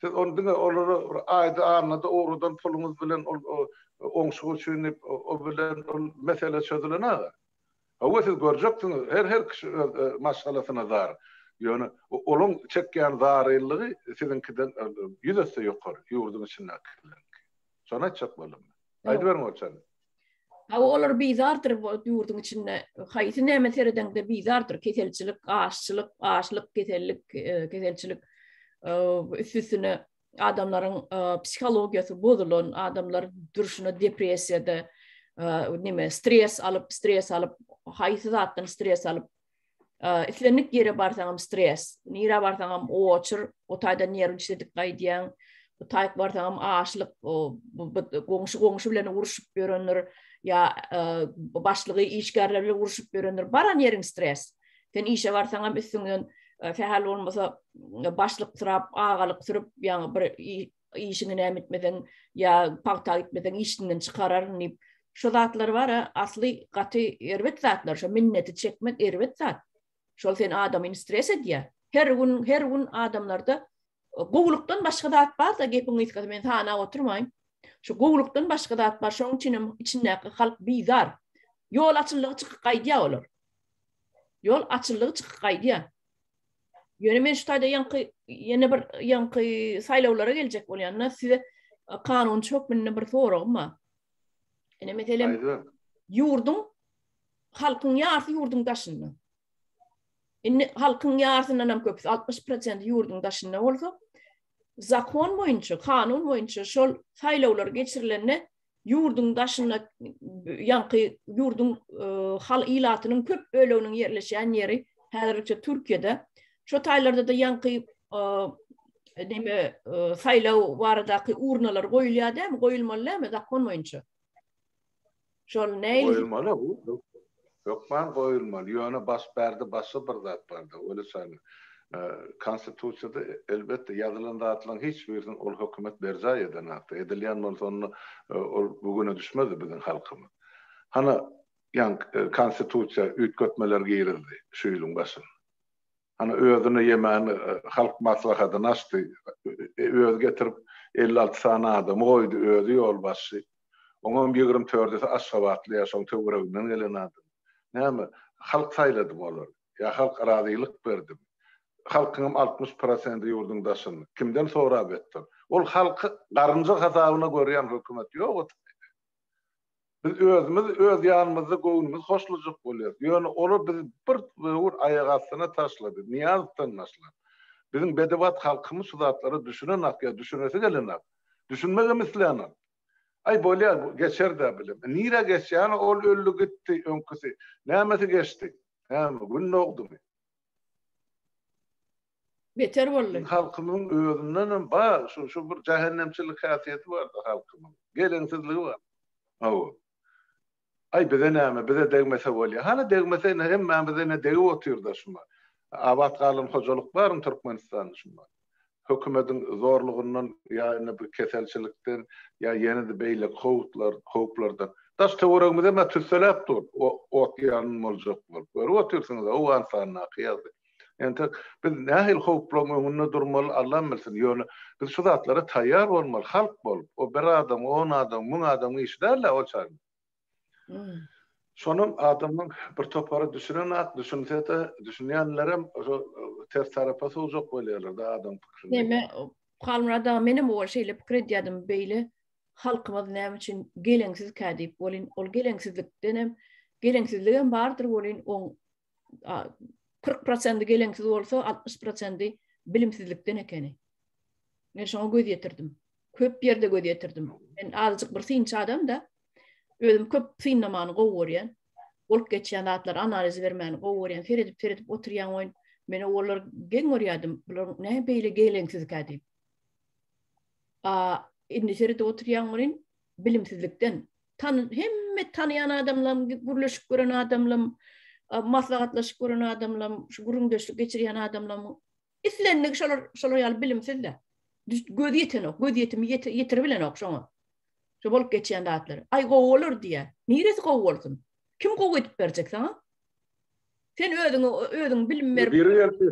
Siz ony diňe olara bir aýda annada ugradan puluňyz bilen ol oňşuk üçin diýip o bilen ol mesele çözülen aga. Hawa siz görjeksiňiz her her kişi öz maşgalasyna zar. Ýöne olaň çekýän zaryllygy siziňkiden ýüz esse ýokary ýurduň içindäkileriňki. Şony aýtjak boldum. Aýdyberiň Orçany. Hawa, olar bizardyr bu ýurduň içinde. Haýsy näme seredeňde bizardyr. Keselçilik, açlyk, açlyk, kesellik, e, keselçilik e, üstüne adamlaryň e, psihologiýasy bozulan, adamlar durşuna depressiýada, näme, stres alyp, stres alyp, haýsy zatdan stres alyp, islendik ýere barsaňam stres, nirä barsaňam oçur, o taýda nerw işledip gaýdýaň, bu taýk barsaňam açlyk, goňşy goňşy bilen uruşyp ýörendir, ýa başlygy işgärler bilen uruşyp ýörendir, baran ýeriň stres. Sen işe barsaňam üstüňden sähel bolmasa başlyk sürap, agalyk sürüp, ýa bir işiňi näme etmeseň ýa pagta gitmeseň işinden çykararyn diýip şu zatlar bar asly gaty erbet zatlar şu minneti çekmek erbet zat şol sen adamyny stres edýär her gün her gün adamlarda gowulykdan başga zat bar da gepiň gysgasy men sanap oturmaýyn şu gowulykdan başga zat bar şoň üçin hem içindäki halk bizar ýol açyldygy çykyp gaýdýar olar ýol açyldygy çykyp gaýdýar Ýöne men şu taýda ýaňky ýene bir ýaňky saýlawlara geljek bolýanda size kanunçy hökmünde bir soragym bar. Ene meselem ýurduň halkyň ýarsy ýurduň daşynda. Indi halkyň ýarsyndan hem köpüsi 60% ýurduň daşynda bolsa, zakon boýunça, kanun boýunça şol saýlawlar geçirilende ýurduň daşynda ýaňky ýurduň e, hal ilatynyň köp böleginiň ýerleşýän ýeri häzirlikçe Türkiýede. Şo taýlarda-da ýaňky e, näme e, saýlaw baradaky urnalar goýulýar dämi, goýulmaly dämi zakon boýunça? Şol näil? Goýulmaly, Hökman goýulmaly, ýöne baş bärde başga bir zat bar-da, weli şäne. Konstitusiýada elbetde ýazylan zatlaryň hiç birini ol hökümet berjaý edenakdy. Edilýän bolsa onda ol bu güne düşmezdi biziň halkymyz. Hany, ýaňky konstitusiýa üýtgetmeler girizdi şu ýylyň başynda. Hany özüne ýemän halk maslahatyny açdy. Özi getirip elli alty sany adamy goýdy, özi ýolbaşçy. Oňam ýigrimi tördüsi aşgabatly ýa şoň töwereginden gelen adam. Näme, halk saýladymy olary? Ýa halk razylyk berdimi? Halkyňam altmyş prosendi ýurduň daşynda. Kimden sorap etdir? Ol halky garynja hasabyna görýän hökümet ýok otyrmy? Biz özümiz öz ýanymyzda göwnümiz hoşlajak bolýarys. Ýöne olar bizi bir böwür aýak astyna taşlady. Nyýazowdan başlap, biziň bedebat halkymyz şu zatlara düşünenak ýa düşünesi gelenak. Düşünmegem isleýänak. Aý, bolýar, geçer-dä bilem. Nirä geçýäni, ol öldi gitdi, öňküsi. Nämesi geçdi? Näme, gün dogdumy? Beter boldy. Halkymyň özündenem bar, şu, şu bir jähennemçilik häsiýeti bar-da halkymyň. Geleňsizligi bar. Hawa. Aý, bize näme, bize degmese bolýa. Hany degmese, ine, hemmämize, ine, degip otyr-da şuma. Abat galan hojalyk barmy Türkmenistanda şuma? Hökümediň zorlugyndan ýa indi bir keselçilikden, ýa ýene-de beýleki howutlar, howplardan. Daş-töweregimiz hem-ä tüsseläp dur, o, ot ýangyn boljak bolup. Görüp otyrsyňyz-a, Owganystandaky ýagdaý. Entek biz nähili howplaryň öňünde durmaly Allam bilsin. Ýöne biz şu zatlara taýýar bolmaly halk bolup. O bir adam, on adam, müň adamyň işi däl-ä ol çagyň. Şonam adamyň bir topary düşünenak, düşünse-de, düşünýänlerem şo ters tarapa sowjak bolýarlar-da adam pikirini. Näme, Halmyrat aga, menem owal şeýle pikir edýärdim, beýle halkymyz näme üçin geleňsizkä diýip. Welin, ol geleňsizlikdenem, geleňsizligem bardyr welin, oň 40 prosenti geleňsiz bolsa, 60 prosenti bilimsizlikden ekeni. Men şoňa göz ýetirdim. Köp ýerde göz ýetirdim. Men azajyk bir synçy adam da, özüm köp synlamany gowy görýän. Bolup geçýän zatlar analiz bermäni gowy görýän. Seredip, seredip oturýan oýun. Men olar geň görýärdim. Bular näme beýle geleňsiz kä diýip. A, indi seredip oturýan oýun bilimsizlikden. tan hemme tanyan adamlam gürleşip gören adamlam maslahatlaşyp gören adamlam şu gürüňdeşlik geçirýän adamlam islendik şolar şolar ýaly bilimsiz de göz ýetenok göz ýetimi ýetirip bilenok şoňa şu bolup geçýän zatlar aý gowy bolar diýýär niresi gowy bolsun kim gowy edip berjek saňa sen özüňi özüň bilim berip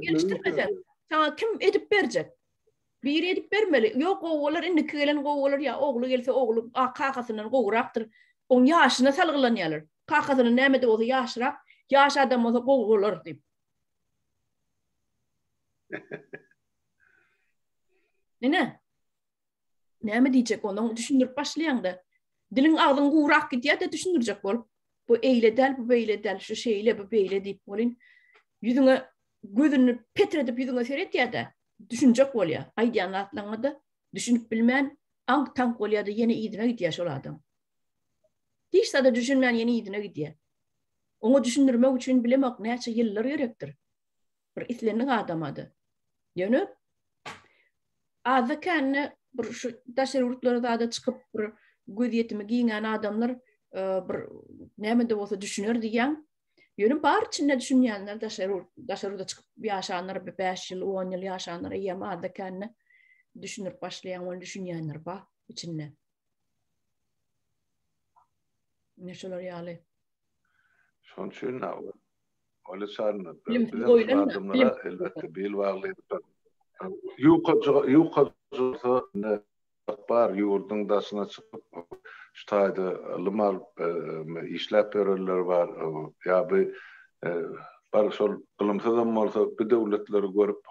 gelişdirmeseň saňa kim edip berjek Biri edip bermeli. Ýok, gowy bolar, indiki gelen gowy bolar ýa ogly gelse ogly kakasyndan gowrakdyr. Oň ýaşyna salgylanýarlar. Kakasyndan näme-de bolsa ýaşyrak, ýaş adam bolsa gowy bolar diýip. Nene. Näme diýjek onuň düşündirip başlaýaňda. Diliň agzyň gowrak gidýär-de düşündirjek bolup. Bu eýle däl, bu beýle däl, şu şeýle, bu beýle diýip bolin. Ýüzüňe gözüni petredip ýüzüňe seretýär-de. düşünjek bolýa. Aýdýan zatlaryňa-da düşünip bilmän, aňk-taňk bolýa-da ýene yzyna gidýä şol adam. Hiç zada düşünmän ýene yzyna gidýä. Oňa düşündirmek üçin bilemok näçe ýyllar gerekdir. Bir islendik adama-da. Ýöne azda-kände bir şu daşary ýurtlara zada çykyp bir gözýetimi giňän adamlar bir näme-de bolsa düşüner diýýän. Ýöne bar içinde düşünýänler daşary daşary ýurda çykyp ýaşanlar 5 ýyl, 10 ýyl ýaşanlar ýa-da adda kände düşünip başlaýan ol düşünýänler bar içinde. Ne şolar ýaly. Şonuň üçin awal Ola çarna. Elbetde bil bagly. Ýuka ýuka ne Bar, ýurduň daşyna çykyp, şu taýda ylym alyp, işläp ýörenler bar. Ýa bu bar şol ylymsyzam bolsa, bu döwletleri görüp,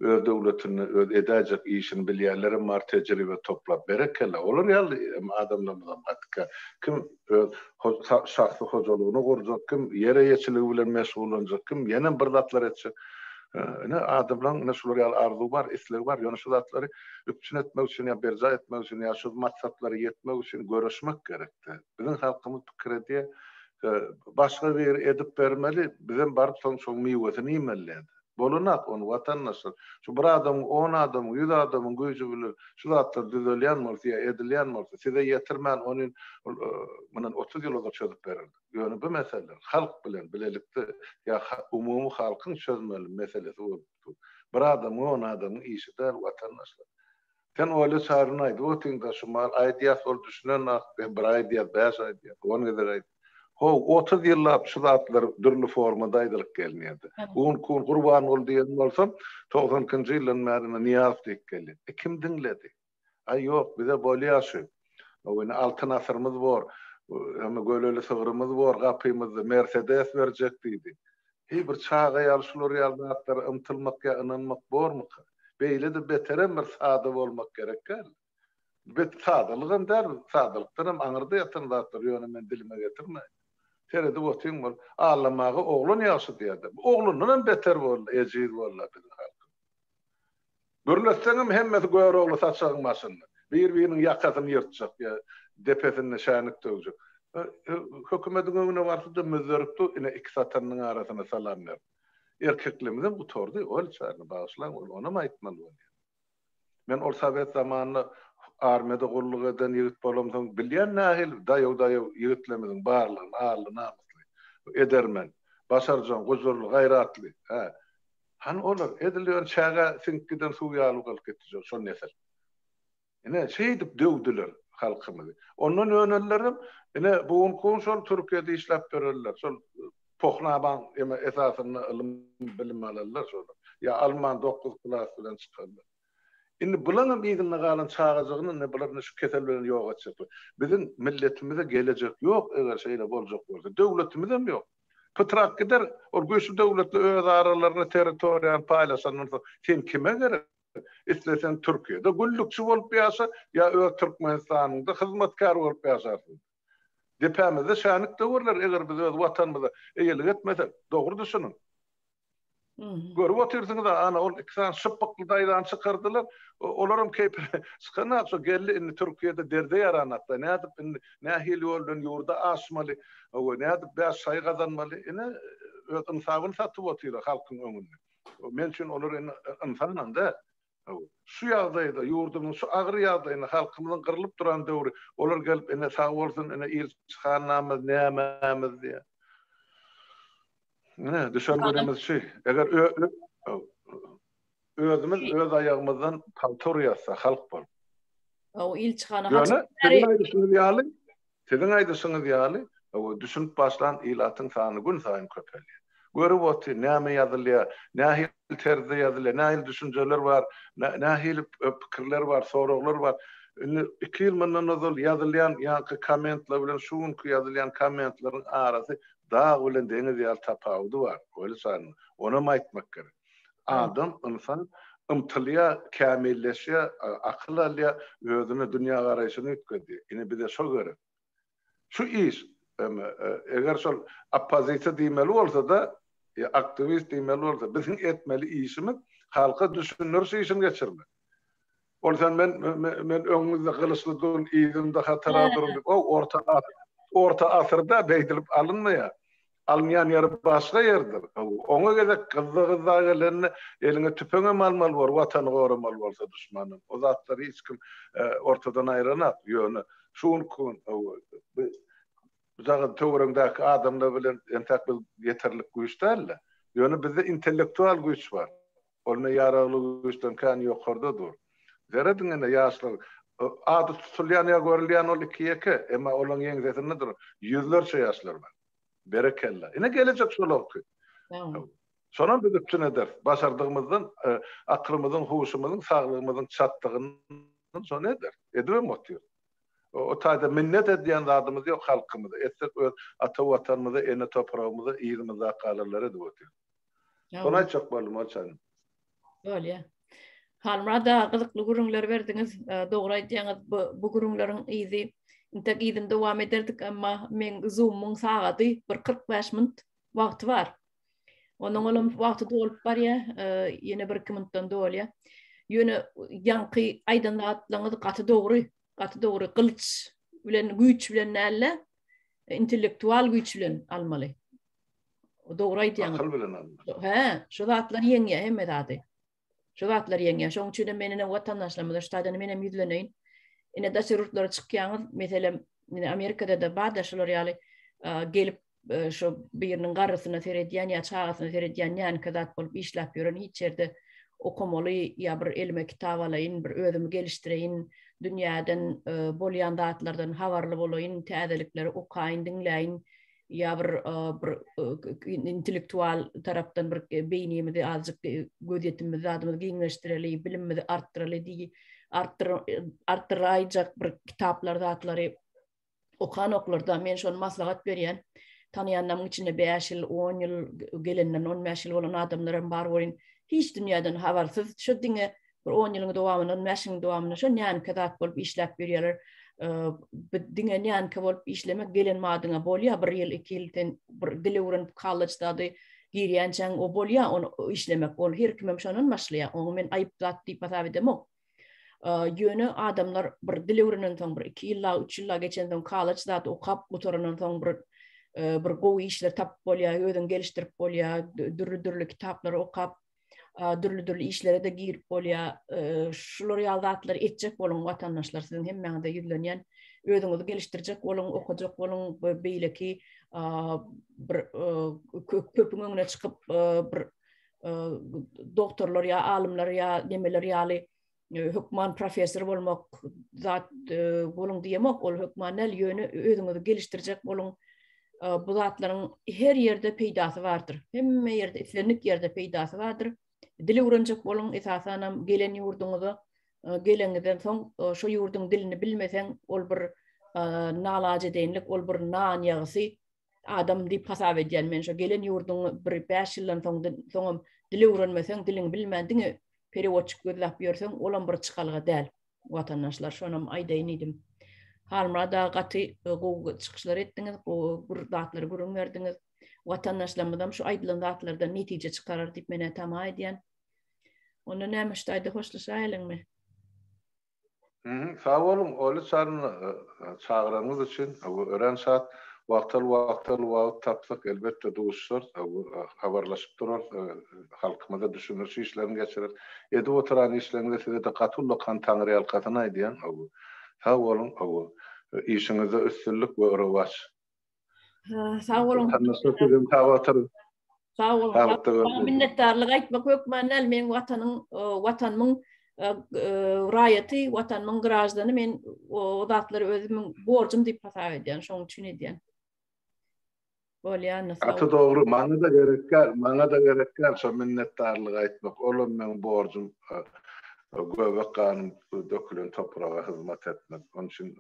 öz döwletinde öz edäýjek işini bilýänlerem bar, tejribe toplap. Berekella, olar ýaly adamlarymyzam gaty kän. Kim öz şahsy hojalygyny gurjak kim, ýer eýeçiligi bilen meşgullanjak, kim ýenem bir zatlar etjek. Ine, adamlaryň ine şular ýaly arzuwy bar, islegi bar. Ýöne şu zatlary üpjün etmek üçin ýa berjaý etmek üçin ýa şu maksatlara ýetmek üçin göreşmek gerek-de. Biziň halkymyz pikir edýär, başga biri edip bermeli, bizem baryp soň şoň miwesini iýmeli-de. Bolanak ony watandaşlar. Şu bir adamyň, on adamyň, ýüz adamyň güýji bilen şu zatlar düzelýän bolsa ýa edilýän bolsa, size ýetirmän ony mundan otuz ýyl ozal çözüp bererdik. Ýöne bu meseleler halk bilen bilelikde ýa umumy halkyň çözmeli meselesi bolup dur. Bir adamyň, on adamyň işi däl watandaşlar. Sen Olýa çaryny aýdyp otyň-da, şu mal aýdýa, sol düşünen ak, be, bir aýdýa, bäş aýdýa, on gezek aýt. Ho, otuz ýyllap şu zatlar dürli formada aýdylyp gelnýärdi. Un, kun, Gurbanguly diýen bolsa, togsan ikinji ýyldan bäri indi Nyýaz diýip gelýär. E, kim diňledi? Aý, ýok, bize bolýa şu. Ho, indi Altyn asyrymyz bor, hem-ä göleli sygrymyz bor gapymyzda, Mersedes berjek diýdi. Heý, bir çaga ýaly şular ýaly zatlara ymtylmak ýa ynanmak bormuka? Beýle-de beterem bir sada bolmak gerek däl. Bet sadalygam däl, sadalykdanam aňyrda ýatan zatlar, ýöne men dilime getirmeýin. Seredip otyň bol. Allamaga oglan ýagşy diýer-de. Bu oglandanam beter boldy, ejiz boldy-a biziň halkymyz. Gürletseňem hemmesi Görogly saçagyň başynda. Bir-biriniň ýakasyny ýyrtjak ýa depesinde şänik döwjek. Hökümediň öňüne barsa-da müzzerip dur, ine iki satanynyň arasyna salam berip. Erkekligimizem gutardy, ol çagyny bagyşlaň, ol onam aýtmaly bolýar. Men ol sowet zamanynda armiýada gulluk eden ýigit bolamsoň bilýän nähili daýaw-daýaw ýigitlerimiziň barlygyny, arly-namysly, edermen, başarjaň, gujurly, gaýratly, hä, Hany olar, edil ýöne çägä siňip giden suw ýaly galyp gitdi şol nesil. Ine, şeýdip döwdüler halkymyzy. Ondan önenlerem, ine, bu günki şol Türkiýede işläp ýörenler, şol Pohnabaň esasynda ylym-bilim alanlar şolar. Ýa alman dokuz klas bilen çykanlar. Indi bularyňam yzynda galan çagajygyny, ine, bular indi şu kesel bilen ýok etjekler. Biziň milletimize geljek ýok, eger şeýle boljak bolsa. Döwletimizem ýok. Pytrak gider, ol güýçli döwletler öz aralaryna territoriýany paýlaşandan soň sen kime gerek? Isleseň Türkiýede güllükçi bolup ýaşa ýa öz Türkmenistanyňda hyzmatkär bolup ýaşarsyň. Depämizde şänik döwürler eger biz öz watanymyza eýelik etmesek, dogry düşüniň. Görüp otyrsyňyz-a, ana, ol iki sany şypbykly daýzany çykardylar. Olaram keýpleri çykanokça, geldi indi Türkiýede derde ýaranokda. Nädip indi, nähili ýol bilen ýurda aşmaly, hawa, nädip bäş şaý gazanmaly? Ine, öz ynsabyny satyp otyr halkyň öňünde. Men üçin olar indi ynsanam däl. Şu ýagdaýda, ýurdumyň şu agyr ýagdaýynda, halkymyzyň gyrlyp duran döwri, olar gelip, ine, sag bolsun, ine, ilçi hannamyz, nämämiz diýýär. Ine, düşen günümiz şu. Eger özümiz öz aýagymyzdan pagta urýarsa, halk bolup. Hawa, ilçi hana haçan. Ýöne, siziň aýdyşyňyz ýaly, Siziň aýdyşyňyz ýaly, hawa, düşünip başlan ilatyň sany günsaýyn köpelýär. Görüp otyr, näme ýazylýar, nähili terzde ýazylýar, nähili düşünjeler bar, nähili pikirler bar, soraglar bar. Indi iki ýyl mundan ozal ýazylýan ýaňky kommentler bilen şu günki ýazylýan kommentleriň arasy dag bilen deňiz ýaly tapawudy bar, Welisarin. Onam aýtmak gerek. Adam, ynsan ymtylýar, kämilleşýär, akyl alýar, özüne dünýägaraýşyny üýtgedýär. Ine, bize şo gerek. Şu iş, eger şol oppozisiýa diýmeli bolsa-da, aktiwist diýmeli bolsa, biziň etmeli işimiz halka düşündiriş işini geçirmek. Ondan men men öňüňizde gylyçly durun, yzyňda hatara durun diýip, o orta orta asyrda beýdilip alynmaýar. Alynýan ýeri başga ýerdir. Oňa gezek gyzda gyzda gelende eliňe tüpeň hem almaly bor, watany goramaly bolsa duşmandan. O zatlary hiç kim e, ortadan aýranak. Ýöne şu günki gün dagyň töweregindäki adamlar bilen entek biz ýeterlik güýç däl-de. Ýöne bizde intellektual güýç bar. Ol ine ýaragly güýçden kän ýokarda dur. Zerre diňe-de ýaşlar ady tutulýan ýa görülýän ol iki-ýeke, emma olaryň ýeňsesinde duran ýüzlerçe ýaşlar bar. Berekella. Ine gelejek şolarky. Şonam biz üpjün ederis. Başardygymyzdan aklymyzyň, huşumyzyň, saglygymyzyň çatdygyndan şony ederis. Edibem otyrys. O taýda minnet edýän zadymyz ýok halkymyza. Etsek öz ata Watanymyza, ene topragymyza, yzymyzdaky agalara edip otyrys. Şony aýtjak boldum ol çaýyň. Bolýa. Halmurad aga gyzykly gürrüňler berdiňiz. E, dogry aýdýaňyz, bu, bu gürrüňleriň yzy intek yzyny dowam ederdik, emma meň zumyň sagady bir 45 minut wagty bar. Onuň olam wagty dolup barýar, e, ýene bir iki minutdan dolýar. Ýöne ýaňky aýdan zatlaryňyz gaty dogry, gaty dogry. Gylyç bilen güýç bilen näle, intellektual güýç bilen almaly. Dogry aýtýaň. Akyl bilen alna. Hä, şu zatlar ýeňýär hemme zady. Şu zatlar ýeňýär. Şoň üçin hem men ene watandaşlarymyza şu taýdan men hem ýüzleneýin. Ene daşary ýurtlara çykýaňyz, meselem, ine Amerikada da bar-da şular ýaly gelip şu biriniň garrysyna seredýän ýa çagasyna seredýän ýanka zat bolup işläp ýören hiç ýerde okamaly ýa bir elime kitap alaýyn, bir özümi gelişdireýin, dünýäden bolýan zatlardan habarly bolaýyn, täzelikleri okaýyn, diňläýin. ýa bir bir intellektual tarapdan bir beýnimizi azjyk gözýetimimizi zadymyzy giňleşdireli, bilimimizi artdyraly diýi artdyr artdyraýjak bir kitaplar zatlary okan oklarda men şony maslahat berýän. Tanaýanlarymyň içinde 5 ýyl, 10 ýyl gelenden 15 ýyl bolan adamlar hem bar welin hiç dünýäden habarsyz şu diňe bir on ýylyň dowamynda, on bäş ýylyň dowamynda şo nänkä zat bolup işläp ýörýärler. Diňe nänkä bolup işlemek gelen madyňa bolýar, bir ýyl, iki ýyl sen bir dil öwrenip, kolleçdady, girýänçäň o bolýar, ony işlemek. Ol her kimem şondan başlaýar. Oňa men aýyp zat diýip hasap edemok. Ýöne adamlar bir dil öwrenen soň, bir iki ýylla, üç ýylla geçen soň, kolleç zat okap gutarandan soň bir bir gowy işler tapyp bolýar, özüňi gelişdirip bolýar, dürli-dürli kitaplary okap, dürli-dürli işlere-de girip bolýar. Şular ýaly zatlary etjek boluň watandaşlar, siziň hemmäňize ýüzlenýän. Özüňizi gelişdirjek boluň, okajak boluň, beýleki bir köpüň öňüne çykyp bir doktorlar ýa alymlar ýa nemeler ýaly e, hökman professor bolmak zat e, boluň diýemok, ol hökman näl, ýöne özüňizi gelişdirjek boluň. E, bu zatlaryň her ýerde peýdasy bardyr. Hemme ýerde, islendik ýerde peýdasy bardyr. Dili öwrenjek boluň, esasan hem gelen ýurduňyza, geleniňizden soň şu ýurduň dilini bilmeseň, ol bir nalajedenlik, ol bir nan ýagysy, adam diýip hasap edýän men şu gelen ýurduň bir 5 ýyldan soň soňam dil öwrenmeseň diliňi bilmän diňe perewodçik gözläp ýörseň olam bir çykalga däl watandaşlar şonam aýdaýyn diýdim halmyrad aga gaty e, gowy çykyşlar etdiňiz gowy bir zatlary gürrüň berdiňiz watandaşlarymyzam şu aýdylan zatlardan netije çykarar diýip menä tama edýän onda näme şu taýda hoşlaşaýylyňmy Sag boluň, Oly çaryna çagyranyňyz üçin örän şat. Wagtal-wagtal wagt tapsak, elbetde duşarys, habarlaşyp durarys, halkymyza düşündiriş işlerini geçireris. Edip oturan işleriňize size-de gaty uly kan taňryýalkasyn aýdýan. Sag boluň, işiňizde üstünlik we rowaç. Sag boluň. Sag boluň. Minnetdarlyk aýtmak hökman däl, meniň watanyň, watanymyň raýaty, watanymyň graždany men o zatlary özümiň borjum diýip hasap edýän, şonuň üçin edýän. Bolýan. Gaty dogry, maňa-da gerek däl, maňa-da gerek däl şo minnetdarlyk aýtmak, olam meniň borjum. Göbek ganyň dökülen topraga hyzmat etmek. Onuň üçin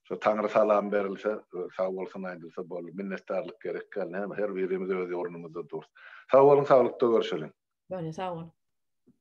şo Taňry salam berilse, sag bolsun aýdylsa boldy. Minnetdarlyk gerek däl. Näme, her birimiz öz ornumyzda durus. Sag boluň, saglykda görşeliň. Bone, sag bol.